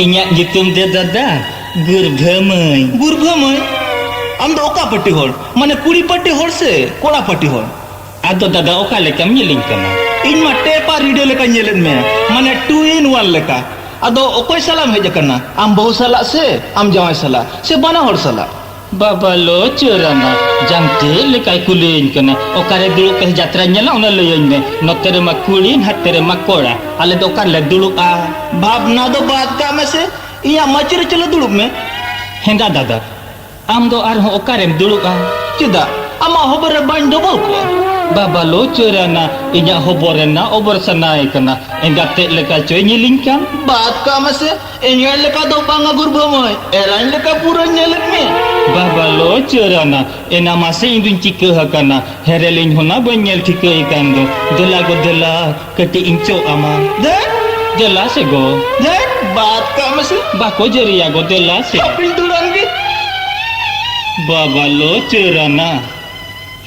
ᱤᱧᱟᱹᱜ ᱧᱩᱛᱩᱢ ᱫᱚ ᱫᱟᱫᱟ ᱜᱩᱨᱵᱷᱟᱹᱢᱟᱹᱭ ᱜᱩᱨᱵᱷᱟᱹᱢᱟᱹᱭ ᱟᱢ ᱫᱚ ᱚᱠᱟ ᱯᱟᱹᱴᱤ ᱦᱚᱲ ᱢᱟᱱᱮ ᱠᱩᱲᱤ ᱯᱟᱹᱴᱤ ᱦᱚᱲ ᱥᱮ ᱠᱚᱲᱟ ᱯᱟᱹᱴᱤ ᱦᱚᱲ ᱟᱫᱚ ᱫᱟᱫᱟ ᱚᱠᱟ ᱞᱮᱠᱟᱢ ᱧᱮᱞᱤᱧ ᱠᱟᱱᱟ ᱤᱧ ᱢᱟ ᱴᱮᱯ ᱟᱨ ᱨᱮᱰᱤᱭᱳ ᱞᱮᱠᱟ ᱧᱮᱞᱮᱫ ᱢᱮᱭᱟ ᱢᱟᱱᱮ ᱴᱩ ᱤᱱ ᱣᱟᱱ ᱞᱮᱠᱟ ᱟᱫᱚ ᱚᱠᱚᱭ ᱥᱟᱞᱟᱜ ᱮᱢ ᱦᱮᱡ ᱟᱠᱟᱱᱟ ᱟᱢ ᱵᱟᱹᱦᱩ ᱥᱟᱞᱟᱜ ᱥᱮ ᱟᱢ ᱡᱟᱶᱟᱭ ᱥᱟᱞᱟᱜ ᱥᱮ ᱵᱟᱱᱟ ᱦᱚᱲ ᱥᱟᱞᱟᱜ ᱵᱟᱵᱟ ᱞᱚ ᱪᱚᱨᱟᱱᱟ ᱡᱟᱝ ᱪᱮᱫ ᱞᱮᱠᱟᱭ ᱠᱩᱞᱤᱭᱟᱹᱧ ᱠᱟᱱᱟ ᱚᱠᱟᱨᱮ ᱫᱩᱲᱩᱵ ᱠᱟᱛᱮ ᱡᱟᱛᱨᱟ ᱧᱮᱞᱟ ᱚᱱᱟ ᱞᱟᱹᱭᱟᱹᱧ ᱢᱮ ᱱᱚᱛᱮ ᱨᱮᱢᱟ ᱠᱩᱲᱤ ᱱᱟᱛᱮ ᱨᱮᱢᱟ ᱠᱚᱲᱟ ᱟᱞᱮ ᱫᱚ ᱚᱠᱟᱨᱮᱞᱮ ᱫᱩᱲᱩᱵᱼᱟ ᱵᱷᱟᱵᱽᱱᱟ ᱫᱚ ᱵᱟᱫ ᱠᱟᱜ ᱢᱮᱥᱮ ᱤᱧᱟᱹᱜ ᱢᱟᱹᱪᱤ ᱨᱮ ᱪᱚᱞᱚ ᱫᱩᱲᱩᱵ ᱢᱮ ᱦᱮᱸᱫᱟ ᱫᱟᱫᱟ ᱟᱢ ᱫᱚ ᱟᱨᱦᱚᱸ ᱚᱠᱟᱨᱮᱢ ᱫᱩᱲᱩᱵᱼᱟ ᱪᱮᱫᱟᱜ ᱟᱢᱟᱜ ᱦᱚᱵᱚᱨ ᱨᱮ ᱵᱟᱹᱧ ᱰᱚᱵᱚᱞ ᱠᱚᱜᱼᱟ ᱵᱟᱵᱟ ᱞᱚ ᱪᱚᱨᱟᱱᱟ ᱤᱧᱟᱹᱜ ᱦᱚᱵᱚᱨ ᱨᱮᱱᱟᱜ ᱚᱵᱚᱨ ᱥᱟᱱᱟᱭᱮ ᱠᱟᱱᱟ ᱮᱸᱜᱟᱛ ᱛᱮᱫ ᱞᱮᱠᱟ ᱪᱚᱭ ᱧᱮᱞᱤᱧ ᱠᱟᱱ ᱵᱟᱫ ᱠᱟᱜ ᱢᱮᱥᱮ ᱤᱧᱟᱹᱜ ᱞᱮᱠᱟ ᱫᱚ ᱵᱟᱝᱟ ᱜᱩᱨᱵᱷᱟᱹ ᱢᱟᱹᱭ ᱮᱨᱟᱧ ᱞᱮᱠᱟ ᱯᱩᱨᱟᱹ ᱧᱮᱞᱮᱫ ᱢᱮ ᱵᱟᱵᱟ ᱞᱚ ᱪᱟᱹᱨᱟᱱᱟ ᱮᱱᱟ ᱢᱟᱥᱮ ᱤᱧ ᱫᱩᱧ ᱪᱤᱠᱟᱹ ᱟᱠᱟᱱᱟ ᱦᱮᱨᱮᱞ ᱤᱧ ᱦᱚᱱᱟ ᱵᱟᱹᱧ ᱧᱮᱞ ᱴᱷᱤᱠᱟᱹ ᱮᱠᱟᱱ ᱫᱚ ᱫᱮᱞᱟ ᱜᱚ ᱫᱮᱞᱟ ᱠᱟᱹᱴᱤᱡ ᱤᱧ ᱪᱚᱜ ᱟᱢᱟ ᱫᱮᱱ ᱫᱮᱞᱟ ᱥᱮ ᱜᱚ ᱫᱮᱱ ᱵᱟᱫ ᱠᱟᱜ ᱢᱮᱥᱮ ᱵᱟᱠᱚ ᱡᱟᱹᱨᱤᱭᱟ ᱜᱚ ᱫᱮᱞᱟ ᱥᱮ ᱟᱯᱤᱞ ᱫᱩᱲᱟᱱ ᱜᱮ ᱵᱟᱵᱟ ᱞᱚ ᱪᱟᱹᱨᱟᱱᱟ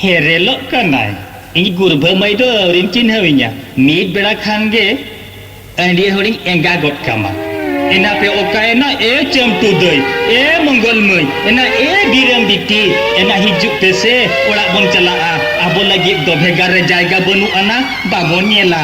ᱦᱮᱨᱮᱞᱚᱜ ᱠᱟᱱᱟᱭ ᱤᱧ ᱜᱩᱨᱵᱷᱟᱹ ᱢᱟᱹᱭ ᱫᱚ ᱟᱹᱣᱨᱤᱢ ᱪᱤᱱᱦᱟᱹᱣᱤᱧᱟ ᱢᱤᱫ ᱵᱮᱲᱟ ᱠᱷᱟᱱ ᱜᱮ ᱟᱺᱰᱤᱭᱟᱹ ᱦᱚᱲᱤᱧ ᱮᱸᱜᱟ ᱜᱚᱫ ᱠᱟᱢᱟ ᱮᱱᱟ ᱯᱮ ᱚᱠᱟᱭᱮᱱᱟ ᱮ ᱪᱟᱹᱢᱴᱩ ᱫᱟᱹᱭ ᱮ ᱢᱚᱝᱜᱚᱞ ᱢᱟᱹᱭ ᱮᱱᱟ ᱮ ᱵᱤᱨᱟᱹᱢ ᱵᱤᱴᱤ ᱮᱱᱟ ᱦᱤᱡᱩᱜ ᱯᱮ ᱥᱮ ᱚᱲᱟᱜ ᱵᱚᱱ ᱪᱟᱞᱟᱜᱼᱟ ᱟᱵᱚ ᱞᱟᱹᱜᱤᱫ ᱫᱚ ᱵᱷᱮᱜᱟᱨ ᱨᱮ ᱡᱟᱭᱜᱟ ᱵᱟᱹᱱᱩᱜ ᱟᱱᱟ ᱵᱟᱵᱚᱱ ᱧᱮᱞᱟ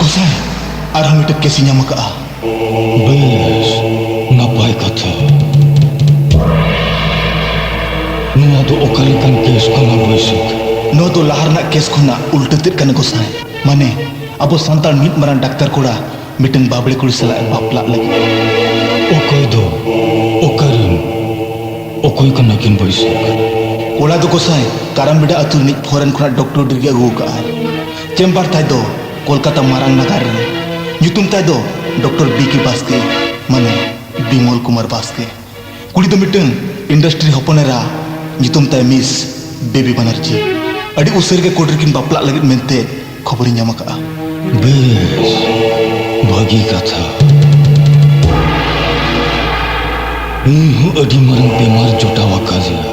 ᱜᱚᱥᱟᱭ ᱟᱨᱦᱚᱸ ᱢᱤᱫᱴᱟᱝ ᱠᱮᱥ ᱧᱟᱢ ᱟᱠᱟᱜᱼᱟ ᱵᱮᱥ ᱱᱟᱯᱟᱭ ᱠᱟᱛᱷᱟ ᱱᱚᱣᱟ ᱫᱚ ᱚᱠᱟ ᱞᱮᱠᱟᱱ ᱠᱮᱥ ᱠᱟᱱᱟ ᱵᱟᱹᱭᱥᱟᱹᱠᱷ ᱱᱚᱣᱟ ᱫᱚ ᱞᱟᱦᱟ ᱨᱮᱱᱟᱜ ᱠᱮᱥ ᱠᱷᱚᱱᱟᱜ ᱩᱞᱴᱟᱹ ᱛᱮᱫ ᱠᱟᱱᱟ ᱜᱚᱥᱟᱭ ᱢᱟᱱᱮ ᱟᱵᱚ ᱥᱟᱱᱛᱟᱲ ᱢᱤᱫ ᱢᱟᱨᱟᱝ ᱰᱟᱠᱛᱟᱨ ᱠᱚᱲᱟ ᱢᱤᱫᱴᱟᱝ ᱵᱟᱵᱲᱮ ᱠᱩᱲᱤ ᱥᱟᱞᱟᱜ ᱮ ᱵᱟᱯᱞᱟᱜ ᱞᱟᱹᱜᱤᱫ ᱚᱠᱚᱭ ᱫᱚ ᱚᱠᱟᱨᱮᱱ ᱚᱠᱚᱭ ᱠᱟᱱᱟ ᱠᱤᱱ ᱵᱟᱹᱭᱥᱟᱹᱠ ᱠᱚᱲᱟ ᱫᱚ ᱜᱚᱥᱟᱭ ᱠᱟᱨᱟᱢᱵᱮᱰᱟ ᱟᱹᱛᱩ ᱨᱤᱱᱤᱡ ᱯᱷᱚᱨᱮᱱ ᱠᱷᱚᱱᱟᱜ ᱰᱚᱠᱴᱚᱨ ᱰᱤᱜᱽᱨᱤ ᱟᱹᱜᱩ ᱟᱠᱟᱫᱼᱟᱭ ᱪᱮᱢᱵᱟᱨ ᱛᱟᱭ ᱫᱚ ᱠᱳᱞᱠᱟᱛᱟ ᱢᱟᱨᱟᱝ ᱱᱟᱜᱟᱨ ᱨᱮ ᱧᱩᱛᱩᱢ ᱛᱟᱭ ᱫᱚ ᱰᱚᱠᱴᱚᱨ ᱵᱤ ᱠᱮ ᱵᱟᱥᱠᱮ ᱢᱟᱱᱮ ᱵᱤᱢᱚᱞ ᱠᱩᱢᱟᱨ ᱵᱟᱥᱠᱮ ᱠᱩᱲᱤ ᱫᱚ ᱢᱤᱫᱴᱟᱝ ᱤᱱᱰᱟᱥᱴᱨᱤ ᱦᱚᱯᱚᱱ ᱮᱨᱟ ᱧᱩᱛᱩᱢ ᱛᱟᱭ ᱢᱤᱥ ᱵᱮᱵᱤ ᱵᱟᱱᱟᱨᱡᱤ ᱟᱹᱰᱤ ᱩᱥᱟᱹᱨ ᱜᱮ ᱠᱳᱨᱴ ᱨᱮᱠᱤᱱ ᱵᱟᱯᱞᱟᱜ ᱞᱟᱹᱜᱤᱫ ᱢᱮᱱᱛᱮ ᱠᱷᱚᱵᱚᱨᱤᱧ ᱧᱟᱢ ᱟᱠᱟᱫᱼᱟ ᱵᱮᱥ ᱵᱷᱟᱹᱜᱤ ᱠᱟᱛᱷᱟ ᱤᱧ ᱦᱚᱸ ᱟᱹᱰᱤ ᱢᱟᱨᱟᱝ ᱵᱮᱢᱟᱨ ᱡᱚᱴᱟᱣ ᱟᱠᱟᱫᱤᱧᱟ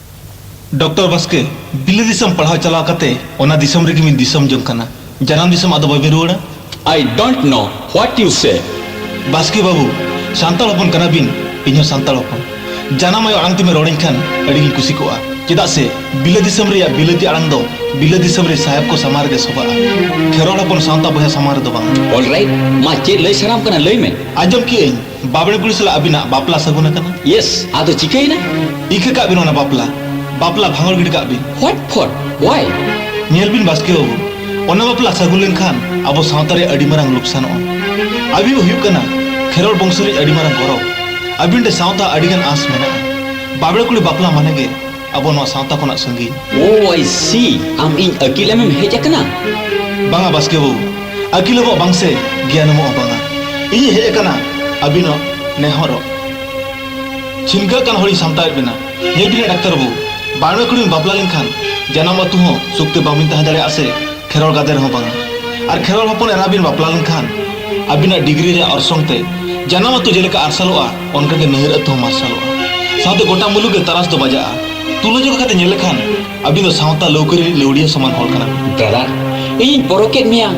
ᱰᱚᱠᱴᱚᱨ ᱵᱟᱥᱠᱮ, ᱵᱤᱞᱟᱹ ᱫᱤᱥᱚᱢ ᱯᱟᱲᱦᱟᱣ ᱪᱟᱞᱟᱣ ᱠᱟᱛᱮ ᱚᱱᱟ ᱫᱤᱥᱚᱢ ᱨᱮᱜᱮ ᱵᱤᱱ ᱫᱤᱥᱚᱢ ᱡᱚᱝ ᱠᱟᱱᱟ᱾ ᱡᱟᱱᱟᱢ ᱫᱤᱥᱚᱢ ᱟᱫᱚ ᱵᱟᱵᱤᱱ ᱨᱩᱣᱟᱹᱲᱟ? ᱟᱭ ᱰᱚᱱᱴ ᱱᱚ ᱦᱣᱟᱴ ᱭᱩ ᱥᱮ᱾ ᱵᱟᱥᱠᱮ ᱵᱟᱹᱵᱩ, ᱥᱟᱱᱛᱟᱲ ᱦᱚᱯᱚᱱ ᱠᱟᱱᱟ ᱵᱤᱱ, ᱤᱧ ᱦᱚᱸ ᱥᱟᱱᱛᱟᱲ ᱦᱚᱯᱚᱱ᱾ ᱡᱟᱱᱟᱢ ᱟᱭᱳ ᱟᱲᱟᱝ ᱛᱮᱵᱤᱱ ᱨᱚᱲ ᱟᱹᱧ ᱠᱷᱟᱱ ᱟᱹᱰᱤ ᱜᱤᱧ ᱠᱩᱥᱤ ᱠᱚᱜᱼᱟ᱾ ᱪᱮᱫᱟᱜ ᱥᱮ ᱵᱤᱞᱟᱹ ᱫᱤᱥᱚᱢ ᱨᱮᱭᱟᱜ ᱵᱤᱞᱟᱹᱛᱤ ᱟᱲᱟᱝ ᱫᱚ ᱵᱤᱞᱟᱹ ᱫᱤᱥᱚᱢ ᱨᱤᱱ ᱥᱟᱦᱮᱵᱽ ᱠᱚ ᱥᱟᱢᱟᱝ ᱨᱮᱜᱮ ᱥᱚᱵᱷᱟᱜᱼᱟ᱾ ᱠᱷᱮᱨᱣᱟᱲ ᱦᱚᱯᱚᱱ ᱥᱟᱶᱛᱟ ᱵᱚᱭᱦᱟ ᱥᱟᱢᱟᱝ ᱨᱮᱫᱚ ᱵᱟᱝᱟ᱾ ᱚᱞ ᱨᱟᱭᱤᱴ, ᱢᱟ ᱪᱮᱫ ᱞᱟᱹᱭ ᱥᱟᱱᱟᱢ ᱠᱟᱱᱟ ᱞᱟᱹᱭ ᱢᱮ᱾ ᱟᱸᱡᱚᱢ ᱠᱮᱜ ᱟᱹᱧ᱾ ᱵᱟᱵᱽᱲᱮ ᱠᱩᱲᱤ ᱥᱟᱞᱟᱜ ᱟᱹᱵᱤᱱᱟᱜ ᱵᱟᱯᱞᱟ ᱥᱟᱹᱜᱩᱱ ᱟᱠᱟᱱᱟ᱾ ᱭᱮᱥ, ᱟᱫᱚ ᱪᱤᱠᱟᱹᱭᱮᱱᱟ? ᱤᱠᱟᱹ ᱠᱟᱜ ᱵᱤᱱ ᱚᱱᱟ ᱵᱟᱯᱞᱟ᱾ ᱵᱟᱯᱞᱟ ᱵᱷᱟᱸᱜᱚᱲ ᱜᱤᱰᱤ ᱠᱟᱜ ᱵᱤᱱ᱾ Hot ᱯᱷᱚᱴ, Y? ᱧᱮᱞ ᱵᱤᱱ ᱵᱟᱥᱠᱮ ᱵᱟᱹᱵᱩ, ᱚᱱᱟ ᱵᱟᱯᱞᱟ ᱥᱟᱹᱜᱩᱱ ᱞᱮᱱ ᱠᱷᱟᱱ ᱟᱵᱚ ᱥᱟᱶᱛᱟ ᱨᱮ ᱟᱹᱰᱤ ᱢᱟᱨᱟᱝ ᱞᱩᱠᱥᱟᱱᱚᱜᱼᱟ᱾ ᱟᱹᱵᱤᱱ ᱦᱩᱭᱩᱜ ᱠᱟᱱᱟ ᱠᱷᱮᱨᱣᱟᱲ ᱵᱚᱝᱥᱚ ᱨᱤᱱᱤᱡ ᱟᱹᱰᱤ ᱢᱟᱨᱟᱝ ᱜᱚᱨᱚᱵᱽ᱾ ᱟᱹᱵᱤᱱ ᱴᱷᱮᱱ ᱥᱟᱶᱛᱟ ᱟᱹᱰᱤ ᱜᱟᱱ ᱟᱸᱥ ᱢᱮᱱᱟᱜᱼᱟ᱾ ᱵᱟᱵᱽᱲᱮ ᱠᱩᱲᱤ ᱵᱟᱯᱞᱟ ᱢᱟᱱᱮ ᱜᱮ ᱟᱵᱚ ᱱᱚᱣᱟ ᱥᱟᱶᱛᱟ ᱠᱷᱚᱱᱟᱜ ᱥᱟᱺᱜᱤᱧ ᱳ ᱟᱭ ᱥᱤ ᱟᱢ ᱤᱧ ᱟᱹᱠᱤᱞ ᱮᱢᱮᱢ ᱦᱮᱡ ᱟᱠᱟᱱᱟ ᱵᱟᱝᱟ ᱵᱟᱥᱠᱮ ᱵᱟᱹᱵᱩ ᱟᱹᱠᱤᱞ ᱮᱢᱚᱜ ᱵᱟᱝ ᱥᱮ ᱜᱮᱭᱟᱱ ᱮᱢᱚᱜ ᱵᱟᱝᱟ ᱤᱧ ᱦᱮᱡ ᱟᱠᱟᱱᱟ ᱟᱹᱵᱤᱱᱟᱜ ᱱᱮᱦᱚᱨᱚᱜ ᱪᱷᱤᱱᱠᱟᱹ ᱠᱟᱱ ᱦᱚᱲᱤᱧ ᱥᱟᱢᱴᱟᱣᱮᱫ ᱵᱮᱱᱟ ᱞᱟᱹᱭ ᱵᱤᱱᱟ ᱰᱟᱠᱛᱟᱨ ᱵᱟᱹᱵᱩ ᱵᱟᱲᱮ ᱠᱩᱲᱤᱢ ᱵᱟᱯᱞᱟ ᱞᱮᱱᱠᱷᱟᱱ ᱡᱟᱱᱟᱢ ᱟᱹᱛᱩ ᱦᱚᱸ ᱥᱩᱠᱛᱮ ᱵᱟᱵᱤᱱ ᱛᱟᱦᱮᱸ ᱫᱟᱲᱮᱭᱟᱜᱼᱟ ᱥᱮ ᱠᱷᱮᱨᱣᱟᱞ ᱜᱟᱫᱮ ᱨᱮᱦᱚᱸ ᱵᱟᱝᱟ ᱟᱨ ᱠᱷᱮᱨᱣᱟᱞ ᱦᱚᱯᱚᱱ ᱮᱨᱟ ᱵᱤᱱ ᱵᱟᱯᱞᱟ ᱞᱮᱱᱠᱷᱟᱱ ᱟᱹᱵᱤᱱᱟᱜ ᱰᱤᱜᱽᱨᱤ ᱨᱮᱭᱟᱜ ᱚᱨᱥᱚᱝ ᱛᱮ ᱡᱟᱱᱟᱢ ᱟᱹᱛᱩ ᱡᱮᱞᱮᱠᱟ ᱟᱨᱥᱟᱞᱚᱜᱼᱟ ᱚᱱᱠᱟ ᱜᱮ ᱱᱟᱹᱭᱟᱹᱨ ᱟᱹᱛᱩ ᱦᱚᱸ ᱢᱟᱨᱥᱟᱞᱚᱜᱼᱟ ᱥᱟᱶᱛᱮ ᱜᱚᱴᱟ ᱢᱩᱞᱩᱜ ᱜᱮ ᱛᱟᱨᱟᱥ ᱫᱚ ᱵᱟᱡᱟᱜᱼᱟ ᱛᱩᱞᱟᱹᱡᱚᱠᱷᱟ ᱠᱟᱛᱮ ᱧᱮᱞ ᱞᱮᱠᱷᱟᱱ ᱟᱹᱵᱤᱱ ᱫᱚ ᱥᱟᱶᱛᱟ ᱞᱟᱹᱣᱠᱟᱹ ᱨᱤᱱᱤᱡ ᱞᱟᱹᱣᱲᱤᱭᱟᱹ ᱥᱚᱢᱟᱱ ᱦᱚᱲ ᱠᱟᱱᱟ ᱵᱤᱱ ᱫᱟᱫᱟ ᱤᱧᱤᱧ ᱯᱚᱨᱚᱠᱮᱫ ᱢᱮᱭᱟ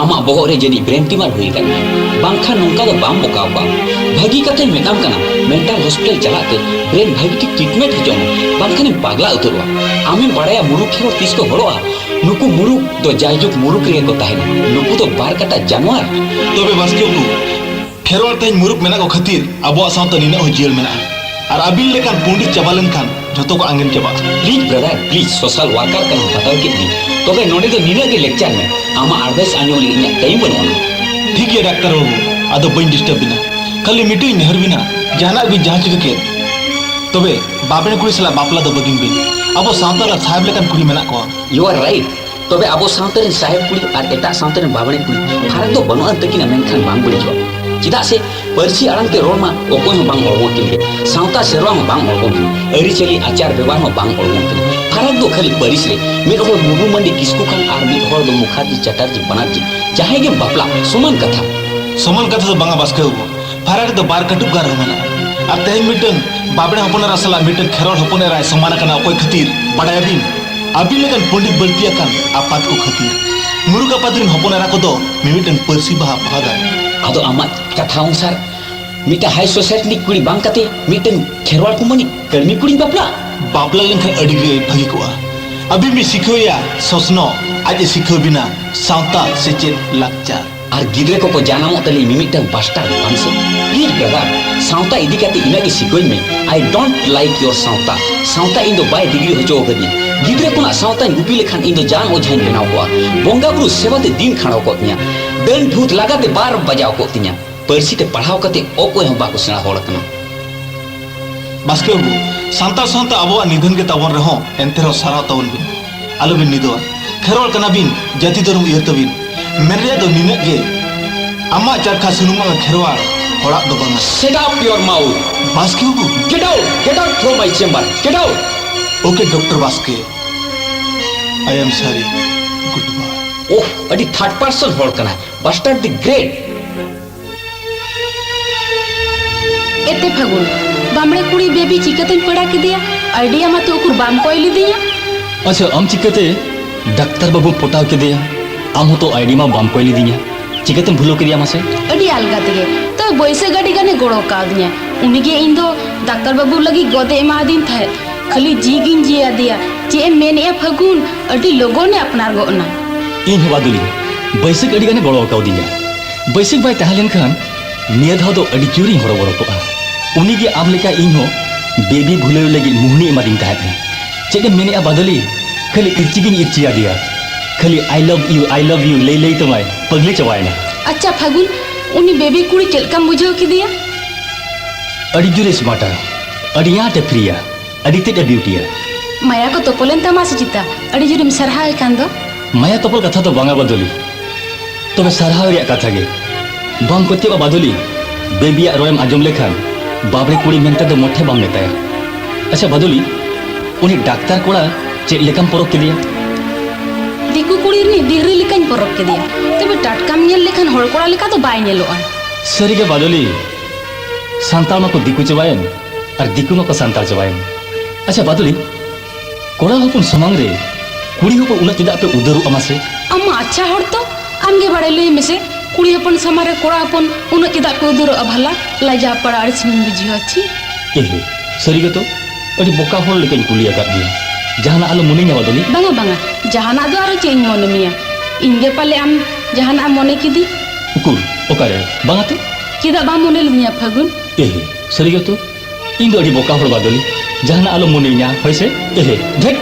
ᱟᱢᱟᱜ ᱵᱚᱦᱚᱜ ᱨᱮ ᱡᱟᱹᱱᱤᱡ ᱵᱨᱮᱱ ᱴᱤᱢᱟᱨ ᱦᱩᱭ ᱟᱠᱟᱱ ᱢᱮᱭᱟ ᱵᱟᱝᱠᱷᱟᱱ ᱱᱚᱝᱠᱟ ᱫᱚ ᱵᱟᱢ ᱵᱚᱠᱟ ᱟᱠᱚᱣᱟ ᱵᱷᱟᱹᱜᱤ ᱠᱟᱛᱷᱟᱧ ᱢᱮᱛᱟᱢ ᱠᱟᱱᱟ ᱢᱮᱱᱴᱟᱞ ᱦᱚᱥᱯᱤᱴᱟᱞ ᱪᱟᱞᱟᱜ ᱛᱮ ᱵᱨᱮᱱ ᱵᱷᱟᱹᱜᱤ ᱴᱷᱤᱠ ᱴᱨᱤᱴᱢᱮᱱᱴ ᱦᱚᱪᱚᱜ ᱢᱮ ᱵᱟᱝᱠᱷᱟᱱᱮᱢ ᱯᱟᱜᱽᱞᱟ ᱩᱛᱟᱹᱨᱚᱜᱼᱟ ᱟᱢᱮᱢ ᱵᱟᱲᱟᱭᱟ ᱢᱩᱨᱩᱠ ᱠᱷᱮᱨᱣᱟᱲ ᱛᱤᱥ ᱠᱚ ᱦᱚᱲᱚᱜᱼᱟ ᱱᱩᱠᱩ ᱢᱩᱨᱩᱠ ᱫᱚ ᱡᱟᱭᱡᱩᱜᱽ ᱢᱩᱨᱩᱠ ᱨᱮᱜᱮ ᱠᱚ ᱛᱟᱦᱮᱱᱟ ᱱᱩᱠᱩ ᱫᱚ ᱵᱟᱨ ᱠᱟᱴᱟ ᱡᱟᱱᱣᱟᱨ ᱛᱚᱵᱮ ᱵᱟᱥᱠᱮ ᱩᱛᱩ ᱠᱷᱮᱨᱣᱟᱞ ᱛᱮᱦᱮᱧ ᱢᱩᱨᱩᱠ ᱢᱮᱱᱟᱜ ᱠᱚ ᱠᱷᱟᱹᱛᱤᱨ ᱟᱵᱚᱣᱟᱜ ᱥᱟᱶᱛᱟ ᱱᱤᱱᱟᱹᱜ ᱦᱚᱸ ᱡᱤᱭᱟᱹᱲ ᱢᱮᱱᱟᱜᱼᱟ ᱟᱨ ᱟᱹᱵᱤᱱ ᱞᱮᱠᱟᱱ ᱯᱚᱸᱰᱤᱛ ᱪᱟᱵᱟ ᱞᱮᱱᱠᱷᱟᱱ ᱡᱷᱚᱛᱚ ᱠᱚ ᱟᱸᱜᱮᱱ ᱪᱟᱵᱟᱜᱼᱟ please brother please social worker ᱠᱟᱱ ᱵᱟᱛᱟᱣ ᱠᱮᱫ ᱢᱮ ᱛᱚᱵᱮ ᱱᱚᱰᱮ ᱫᱚ ᱱᱤᱱᱟᱹᱜ ᱜᱮ ᱞᱮᱠᱪᱟᱨ ᱢᱮ ᱟᱢᱟᱜ ᱟᱨᱫᱟᱥ ᱟᱸᱡᱚᱢ ᱞᱟᱹᱜᱤᱫ ᱤᱧᱟᱹᱜ ᱴᱟᱭᱤᱢ ᱵᱟᱹᱱᱩᱜᱼᱟ ᱴᱷᱤᱠ ᱜᱮᱭᱟ ᱰᱟᱠᱛᱟᱨ ᱵᱟᱹᱵᱩ ᱟᱫᱚ ᱵᱟᱹᱧ ᱰᱤᱥᱴᱟᱨᱵ ᱵᱤᱱᱟ ᱠᱷᱟᱹᱞᱤ ᱢᱤᱫᱴᱤᱡ ᱤᱧ ᱱᱮᱦᱚᱨ ᱵᱤᱱᱟ ᱡᱟᱦᱟᱱᱟᱜ ᱵᱤᱱ ᱡᱟᱦᱟᱸ ᱪᱤᱠᱟᱹ ᱠᱮᱫ ᱛᱚᱵᱮ ᱵᱟᱵᱮᱱ ᱠᱩᱲᱤ ᱥᱟᱞᱟᱜ ᱵᱟᱯᱞᱟ ᱫᱚ ᱵᱟᱹᱜᱤᱱ ᱵᱤᱱ ᱟᱵᱚ ᱥᱟᱶᱛᱟ ᱨᱮ ᱥᱟᱦᱮᱵ ᱞᱮᱠᱟᱱ ᱠᱩᱲᱤ ᱢᱮᱱᱟᱜ ᱠᱚᱣᱟ ᱭᱩ ᱟᱨ ᱨᱟᱭᱤᱴ ᱛᱚᱵᱮ ᱟᱵᱚ ᱥᱟᱶᱛᱟ ᱨᱮᱱ ᱥᱟᱦᱮᱵ ᱠᱩᱲᱤ ᱟᱨ ᱮᱴᱟᱜ ᱥᱟᱶᱛᱟ ᱨᱮᱱ ᱵᱟᱵᱲᱮ ᱠᱩᱲᱤ ᱯᱷᱟᱨᱟᱠ ᱫᱚ ᱵᱟᱹᱱᱩᱜ ᱟᱱ ᱛᱟᱹᱠᱤᱱᱟ ᱢᱮᱱᱠᱷᱟᱱ ᱵᱟᱝ ᱵᱟᱹᱲᱤᱡᱚᱜᱼᱟ ᱪᱮᱫᱟᱜ ᱥᱮ ᱯᱟᱹᱨᱥᱤ ᱟᱲᱟᱝ ᱛᱮ ᱨᱚᱲ ᱢᱟ ᱚᱠᱚᱭ ᱦᱚᱸ ᱵᱟᱝ ᱚᱲᱜᱚ ᱠᱤᱱ ᱜᱮ ᱥᱟᱶᱛᱟ ᱥᱮᱨᱣᱟ ᱦᱚᱸ ᱵᱟᱝ ᱚᱲᱜᱚ ᱠᱤᱱ ᱟᱹᱨᱤᱪᱟᱹᱞᱤ ᱟᱪᱟᱨ ᱵᱮᱵᱷᱟᱨ ᱦᱚᱸ ᱵᱟᱝ ᱚᱲᱜᱚ ᱠᱤᱱ ᱯᱷᱟᱨᱟᱠ ᱫᱚ ᱠᱷᱟᱹᱞᱤ ᱯᱟᱹᱨᱤᱥ ᱨᱮ ᱢᱤᱫ ᱦᱚᱲ ᱢᱩᱨᱢᱩ ᱢᱟᱹᱱᱰᱤ ᱠᱤᱥᱠᱩ ᱠᱷᱟᱱ ᱟᱨ ᱢᱤᱫ ᱦᱚᱲ ᱫᱚ ᱢᱩᱠᱷᱟᱨᱡᱤ ᱪᱟᱴᱟᱨᱡᱤ ᱵᱟᱱᱟᱨᱡᱤ ᱡᱟᱦᱟᱸᱭ ᱜᱮ ᱵᱟᱯᱞᱟ ᱥᱚᱢᱟᱱ ᱠᱟᱛᱷᱟ ᱥᱚᱢᱟᱱ ᱠᱟᱛᱷᱟ ᱫᱚ ᱵᱟᱝᱟ ᱵᱟᱥᱠᱮ ᱵᱟᱵᱩ ᱯᱷᱟᱨᱟᱠ ᱫᱚ ᱵᱟᱨ ᱠᱟᱹᱴᱩᱵ ᱜᱟᱱ ᱨᱮᱦᱚᱸ ᱢᱮᱱᱟᱜᱼᱟ ᱟᱨ ᱛᱮᱦᱮᱧ ᱢᱤᱫᱴᱟᱝ ᱵᱟᱵᱲᱮ ᱦᱚᱯᱚᱱ ᱮᱨᱟ ᱥᱟᱞᱟᱜ ᱢᱤᱫᱴᱟᱝ ᱠᱷᱮᱨᱣᱟᱲ ᱦᱚᱯᱚᱱ ᱮᱨᱟᱭ ᱥᱚᱢᱟᱱ ᱟᱠᱟᱱᱟ ᱚᱠᱚᱭ ᱠᱷᱟᱹᱛᱤᱨ ᱵᱟᱰᱟᱭᱟᱵᱤᱱ ᱟᱹᱵᱤᱱ ᱞᱮᱠᱟᱱ ᱯᱚᱸᱰᱤᱛ ᱵᱟᱹᱲᱛᱤ ᱟᱠᱟᱱ ᱟᱯᱟᱛ ᱠᱚ ᱠᱷᱟᱹᱛᱤᱨ ᱢᱩᱨᱩᱠ ᱟᱯᱟᱛ ᱨᱤᱱ ᱦᱚᱯᱚᱱ ᱮᱨᱟ ᱠᱚᱫᱚ ᱢᱤᱢᱤᱫᱴᱟᱝ ᱯᱟᱹᱨᱥᱤ ᱵᱟᱦᱟ ᱵᱟᱦᱟ ᱫᱟᱨᱮ ᱟᱫᱚ ᱟᱢᱟᱜ ᱠᱟᱛᱷᱟ ᱚᱱᱩᱥᱟᱨ ᱢᱤᱫᱴᱟᱝ ᱦᱟᱭ ᱥᱳᱥᱟᱭᱴᱤ ᱨᱤᱱᱤᱡ ᱠᱩᱲᱤ ᱵᱟᱝ ᱠᱟᱛᱮ ᱢᱤᱫᱴᱟᱝ ᱠᱷᱮᱨᱣᱟᱲ ᱠᱩᱢᱟᱹᱱᱤ ᱠᱟᱹᱲᱢᱤ ᱠᱩᱲᱤᱧ ᱵᱟᱯᱞᱟ ᱵᱟᱯᱞᱟ ᱞᱮᱱᱠᱷᱟᱱ ᱟᱹᱰᱤ ᱜᱮ ᱵᱷᱟᱹᱜᱤ ᱠᱚᱜᱼᱟ ᱟᱹᱵᱤᱱ ᱵᱤᱱ ᱥᱤᱠᱷᱟᱹᱣᱮᱭᱟ ᱥᱚᱥᱱᱚᱜ ᱟᱡ ᱮ ᱥᱤᱠᱷᱟᱹᱣ ᱵᱤᱱᱟ ᱥᱟᱶᱛᱟ ᱥᱮᱪᱮᱫ ᱞᱟᱠᱪᱟᱨ ᱟᱨ ᱜᱤᱫᱽᱨᱟᱹ ᱠᱚᱠᱚ ᱡᱟᱱᱟᱢᱚᱜ ᱛᱟᱹᱞᱤᱧ ᱢᱤᱢᱤᱫᱴᱟᱝ ᱵᱟᱥᱴᱟᱨ ᱵᱟᱝᱥᱮ ᱯᱞᱤᱡ ᱵᱟᱵᱟ ᱥᱟᱶᱛᱟ ᱤᱫᱤ ᱠᱟᱛᱮ ᱤᱱᱟᱹᱜ ᱜᱮ ᱥᱤᱠᱟᱹᱧ ᱢᱮ ᱟᱭ ᱰᱳᱱᱴ ᱞᱟᱭᱤᱠ ᱭᱳᱨ ᱥᱟᱶᱛᱟ ᱥᱟᱶᱛᱟ ᱤᱧ ᱫᱚ ᱵᱟᱭ ᱰᱤᱜᱽᱨᱤ ᱦᱚᱪᱚ ᱟᱠᱟᱫᱤᱧ ᱜᱤᱫᱽᱨᱟᱹ ᱠᱚᱱᱟᱜ ᱥᱟᱶᱛᱟᱧ ᱜᱩᱯᱤ ᱞᱮᱠᱷᱟᱱ ᱤᱧ ᱫᱚ ᱡᱟᱱ ᱚᱡᱷᱟᱧ ᱵᱮᱱᱟᱣ ᱠᱚᱜᱼᱟ ᱵᱚᱸᱜᱟ ᱵᱩᱨᱩ ᱥᱮᱵᱟ ᱛᱮ ᱫᱤᱱ ᱠᱷᱟᱸᱰᱟᱣ ᱠᱚᱜ ᱛᱤᱧᱟ ᱰᱟᱹᱱ ᱵᱷᱩᱛ ᱞᱟᱜᱟ ᱛᱮ ᱵᱟᱨ ᱵᱟᱡᱟᱣ ᱠᱚᱜ ᱛᱤᱧᱟ ᱯᱟᱹᱨᱥᱤ ᱛᱮ ᱯᱟᱲᱦᱟᱣ ᱠᱟᱛᱮ ᱚᱠᱚᱭ ᱦᱚᱸ ᱵᱟᱠᱚ ᱥᱮᱬᱟ ᱦᱚᱲ ᱠᱟᱱᱟ ᱵᱟᱥᱠᱮ ᱵᱟᱹᱵᱩ ᱥᱟᱱᱛᱟᱲ ᱥᱟᱶᱛᱟ ᱟᱵᱚᱣᱟᱜ ᱱᱤᱫᱷᱟᱹᱱ ᱜᱮ ᱛᱟᱵᱚᱱ ᱨᱮᱦᱚᱸ ᱮᱱᱛᱮ ᱨᱮᱦᱚᱸ ᱥᱟᱨᱦᱟᱣ ᱛᱟᱵᱚᱱ ᱵᱤᱱ ᱟᱞᱚ ᱵᱤᱱ ᱱᱤᱫᱚᱜᱼᱟ ᱠᱷᱮᱨᱣᱟᱞ ᱠᱟᱱᱟ ᱵᱤᱱ ᱡᱟᱹᱛᱤ ᱫᱷᱚᱨᱚᱢ ᱩᱭᱦᱟᱹᱨ ᱛᱟᱹᱵᱤᱱ ᱢᱮᱱ ᱨᱮᱭᱟᱜ ᱫᱚ ᱱᱤᱱᱟᱹᱜ ᱜᱮ ᱟᱢᱟᱜ ᱪᱟᱨᱠᱷᱟ ᱥᱩᱱᱩᱢ ᱟᱜ ᱠᱷᱮᱨᱣᱟᱞ ᱦᱚᱲᱟᱜ ᱫᱚ ᱵᱟᱝᱟ ᱥᱮᱴ ᱟᱯ ᱭᱚᱨ ᱢᱟᱣᱩᱛ ᱵᱟᱥᱠᱮ ᱵᱟᱵᱩ get out get out from my chamber get out okay doctor ᱵᱟᱥᱠᱮ ᱟᱭ ᱮᱢ ᱥᱟᱨᱤ ᱜᱩᱰ ᱵᱟᱭ ᱳᱦ ᱟᱹᱰᱤ ᱛᱷᱟᱨᱰ ᱯᱟᱨᱥᱚᱱ ᱦᱚᱲ ᱠᱟᱱᱟ ᱵᱟᱥᱴᱟᱨ ᱫᱤ ᱜᱨᱮᱴ ᱮᱛᱮ ᱯᱷᱟᱹᱜᱩᱱ ᱵᱟᱢᱲᱮ ᱠᱩᱲᱤ ᱵᱮᱵᱤ ᱪᱤᱠᱟᱹᱛᱮᱧ ᱯᱮᱲᱟ ᱠᱮᱫᱮᱭᱟ ᱟᱭᱰᱤᱭᱟ ᱢᱟᱛᱚ ᱩᱠᱩᱨ ᱵᱟᱢ ᱠᱚᱭ ᱞᱮᱫᱤᱧᱟ ᱟᱪᱪᱷᱟ ᱟᱢ ᱪᱤᱠᱟᱹᱛᱮ ᱰᱟᱠᱛᱟᱨ ᱵᱟᱹᱵᱩ ᱯᱚᱴᱟᱣ ᱠᱮᱫᱮᱭᱟ ᱟᱢ ᱦᱚᱸᱛᱚ ᱟᱭᱰᱤ ᱢᱟ ᱵᱟᱢ ᱠᱚᱭ ᱞᱮᱫᱤᱧᱟ ᱪᱤᱠᱟᱹᱛᱮᱢ ᱵᱷᱩᱞᱟᱹᱣ ᱠᱮᱫᱮᱭᱟ ᱢᱟᱥᱮ ᱟᱹᱰᱤ ᱟᱞᱜᱟ ᱛᱮᱜᱮ ᱛᱚ ᱵᱟᱹᱭᱥᱟᱹ ᱜᱟᱹᱰᱤ ᱜᱟᱱᱮ ᱜᱚᱲᱚ ᱠᱟᱣᱫᱤᱧᱟ ᱩᱱᱤᱜᱮ ᱤᱧ ᱫᱚ ᱰᱟᱠᱛᱟᱨ ᱵᱟᱹᱵᱩ ᱞᱟᱹᱜᱤᱫ ᱜᱚᱫᱮ ᱮᱢᱟᱫᱤᱧ ᱛᱟᱦᱮᱸᱫ ᱠᱷᱟᱹᱞᱤ ᱡᱤᱜᱤᱧ ᱡᱤᱭᱟᱫᱮᱭᱟ ᱪᱮᱫ ᱮᱢ ᱢᱮᱱᱮᱜᱼᱟ ᱯᱷᱟᱹᱜᱩᱱ ᱟᱹᱰᱤ ᱞᱚᱜᱚᱱᱮ ᱟᱯᱱᱟᱨ ᱜᱚᱫ ᱮᱱᱟ ᱤᱧ ᱦᱚᱸ ᱵᱟᱫᱩᱞᱤ ᱵᱟᱹᱭᱥᱟᱹ ᱜᱟᱹᱰᱤ ᱜᱟᱱᱮ ᱜᱚᱲᱚ ᱠᱟᱣᱫᱤᱧᱟ ᱵᱟᱹᱭᱥᱟᱹᱠᱷ ᱵᱟᱭ ᱛᱟᱦᱮᱸ ᱞᱮᱱᱠᱷᱟᱱ ᱱᱤᱭᱟᱹ ᱫᱷᱟᱣ ᱫᱚ ᱟᱹᱰᱤ ᱡᱳᱨᱤᱧ ᱦᱚᱨᱚᱵᱚᱨᱚ ᱠᱚᱜᱼᱟ ᱩᱱᱤ ᱜᱮ ᱟᱢ ᱞᱮᱠᱟ ᱤᱧ ᱦᱚᱸ ᱵᱮᱵᱤ ᱵᱷᱩᱞᱟᱹᱣ ᱞᱟᱹᱜᱤᱫ ᱢᱩᱦᱱᱤ ᱮᱢᱟᱫᱤᱧ ᱛᱟᱦᱮᱸᱫ ᱪᱮᱫ ᱮᱢ ᱢᱮᱱᱮᱜᱼᱟ ᱵᱟᱫᱚᱞᱤ ᱠᱷᱟᱹᱞᱤ ᱤᱨᱪᱤ ᱜᱤᱧ ᱤᱨᱪᱤ ᱟᱫᱮᱭᱟ ᱠᱷᱟᱹᱞᱤ ᱟᱭ ᱞᱚᱵᱷ ᱤᱭᱩ ᱟᱭ ᱞᱚᱵᱷ ᱤᱭᱩ ᱞᱟᱹᱭ ᱞᱟᱹᱭ ᱛᱮᱢᱟᱭ ᱯᱟᱹᱜᱽᱞᱤ ᱪᱟᱵᱟᱭᱮᱱᱟ ᱟᱪᱪᱷᱟ ᱯᱷᱟᱹᱜᱩᱱ ᱩᱱᱤ ᱵᱮᱵᱤ ᱠᱩᱲᱤ ᱪᱮᱫ ᱞᱮᱠᱟᱢ ᱵᱩᱡᱷᱟᱹᱣ ᱠᱮᱫᱮᱭᱟ ᱟᱹᱰᱤ ᱡᱳᱨᱮ ᱥᱢᱟᱨᱴᱟ ᱟᱹᱰᱤ ᱟᱸᱴᱮ ᱯᱷᱨᱤᱭᱟ ᱟᱹᱰᱤ ᱛᱮᱫ ᱮ ᱰᱤᱭᱩᱴᱤᱭᱟ ᱢᱟᱭᱟ ᱠᱚ ᱛᱚᱯᱚᱞᱮᱱ ᱛᱟᱢᱟ ᱥᱮ ᱪᱤᱛᱟ ᱟᱹᱰᱤ ᱡᱳᱨᱮᱢ ᱥᱟᱨᱦᱟᱣ ᱮ ᱠᱟᱱ ᱫᱚ ᱢᱟᱭᱟ ᱛᱚᱯᱚᱞ ᱠᱟᱛᱷᱟ ᱫᱚ ᱵᱟᱝᱟ ᱵᱟᱫᱚᱞᱤ ᱛᱚᱵᱮ ᱥᱟᱨᱦᱟᱣ ᱨᱮᱭᱟᱜ ᱠᱟᱛᱷᱟ ᱜᱮ ᱵᱟᱢ ᱯᱟᱹᱛᱭᱟᱹᱜᱼᱟ ᱵᱟᱫᱚᱞᱤ ᱵᱮᱵᱤᱭᱟᱜ ᱨᱚᱲᱮᱢ ᱟᱸᱡᱚᱢ ᱞᱮᱠᱷᱟᱱ ᱵᱟᱵᱨᱮ ᱠᱩᱲᱤ ᱢᱮᱱᱛᱮ ᱫᱚ ᱢᱚᱴᱷᱮ ᱵᱟᱢ ᱢᱮᱛᱟᱭᱟ ᱟᱪᱪᱷᱟ ᱵᱟᱫᱚᱞᱤ ᱩᱱᱤ ᱰᱟᱠᱛᱟᱨ ᱠᱚᱲᱟ ᱪᱮᱫ ᱞᱮᱠᱟᱢ ᱯᱚᱨᱚᱠ ᱠᱮᱫᱮᱭᱟ ᱫᱤᱠᱩ ᱠᱩᱲᱤ ᱨᱤᱱᱤᱡ ᱫᱤᱦᱨᱤ ᱞᱮᱠᱟᱧ ᱯᱚᱨᱚᱠ ᱠᱮᱫᱮᱭᱟ ᱛᱚᱵᱮ ᱴᱟᱴᱠᱟᱢ ᱧᱮᱞ ᱞᱮᱠᱷᱟᱱ ᱦᱚᱲ ᱠᱚᱲᱟ ᱞᱮᱠᱟ ᱫᱚ ᱵᱟᱭ ᱧᱮᱞᱚᱜᱼᱟ ᱥᱟᱹᱨᱤᱜᱮ ᱵᱟᱫᱚᱞᱤ ᱥᱟᱱᱛᱟᱲ ᱢᱟᱠᱚ ᱫᱤᱠᱩ ᱪᱟᱵᱟᱭᱮᱱ ᱟᱨ ᱫᱤᱠᱩ ᱢᱟᱠᱚ ᱥᱟᱱᱛᱟᱲ ᱪᱟᱵᱟᱭᱮᱱ ᱟᱪᱪᱷᱟ ᱵᱟᱫᱩᱞᱤ ᱠᱚᱲᱟ ᱦᱚᱯᱚᱱ ᱥᱟᱢᱟᱝ ᱨᱮ ᱠᱩᱲᱤ ᱦᱚᱯᱚᱱ ᱩᱱᱟᱹᱜ ᱪᱮᱫᱟᱜ ᱯᱮ ᱩᱫᱟᱹᱨᱚᱜᱼᱟ ᱢᱟᱥᱮ ᱟᱢ ᱟᱪᱪᱷᱟ ᱦᱚᱲ ᱛᱚ ᱟᱢᱜᱮ ᱵᱟᱲᱟᱭ ᱞᱟᱹᱭ ᱢᱮᱥᱮ ᱠᱩᱲᱤ ᱦᱚᱯᱚᱱ ᱥᱟᱢᱟᱝ ᱨᱮ ᱠᱚᱲᱟ ᱦᱚᱯᱚᱱ ᱩᱱᱟᱹᱜ ᱪᱮᱫᱟᱜ ᱯᱮ ᱩᱫᱟᱹᱨᱚᱜᱼᱟ ᱵᱷᱟᱞᱟ ᱞᱟᱡᱟ ᱯᱟᱲᱟ ᱟᱹᱲᱤᱥ ᱢᱤᱧ ᱵᱩᱡᱷᱟᱹᱣᱟ ᱪᱤ ᱮᱦᱮ ᱥᱟᱹᱨᱤ ᱜᱮᱛᱚ ᱟᱹᱰᱤ ᱵᱚᱠᱟ ᱦᱚᱲ ᱞᱮᱠᱟᱧ ᱠᱩᱞᱤ ᱟᱠᱟᱫ ᱢᱮᱭᱟ ᱡᱟᱦᱟᱱᱟᱜ ᱟᱞᱚ ᱢᱚᱱᱮᱧᱟ ᱵᱟᱫᱩᱞᱤ ᱵᱟᱝᱟ ᱵᱟᱝᱟ ᱡᱟᱦᱟᱱᱟᱜ ᱫᱚ ᱟᱨᱚ ᱪᱮᱫ ᱤᱧ ᱢᱚᱱᱮ ᱢᱮᱭᱟ ᱤᱧ ᱜᱮ ᱯᱟᱞᱮ ᱟᱢ ᱡᱟᱦᱟᱱᱟᱜ ᱢᱚᱱᱮ ᱠᱤᱫᱤ ᱩᱠᱩᱨ ᱚᱠᱟᱨᱮ ᱵᱟᱝᱟ ᱛᱚ ᱪᱮᱫᱟᱜ ᱵᱟᱢ ᱢᱚᱱᱮ ᱞᱤᱫᱤᱧᱟ ᱯᱷᱟᱹᱜᱩᱱ ᱮᱦᱮ ᱥᱟᱹᱨᱤ ᱜᱮᱛᱚ ᱤᱧ ᱫᱚ ᱟᱹᱰᱤ ᱵᱚᱠᱟ ᱦᱚᱲ ᱵᱟᱫᱚᱞᱤ ᱡᱟᱦᱟᱱᱟᱜ ᱟᱞᱚᱢ ᱢᱚᱱᱮᱧᱟ ᱦᱳᱭ ᱥᱮ ᱮᱦᱮ ᱫᱷᱮᱴ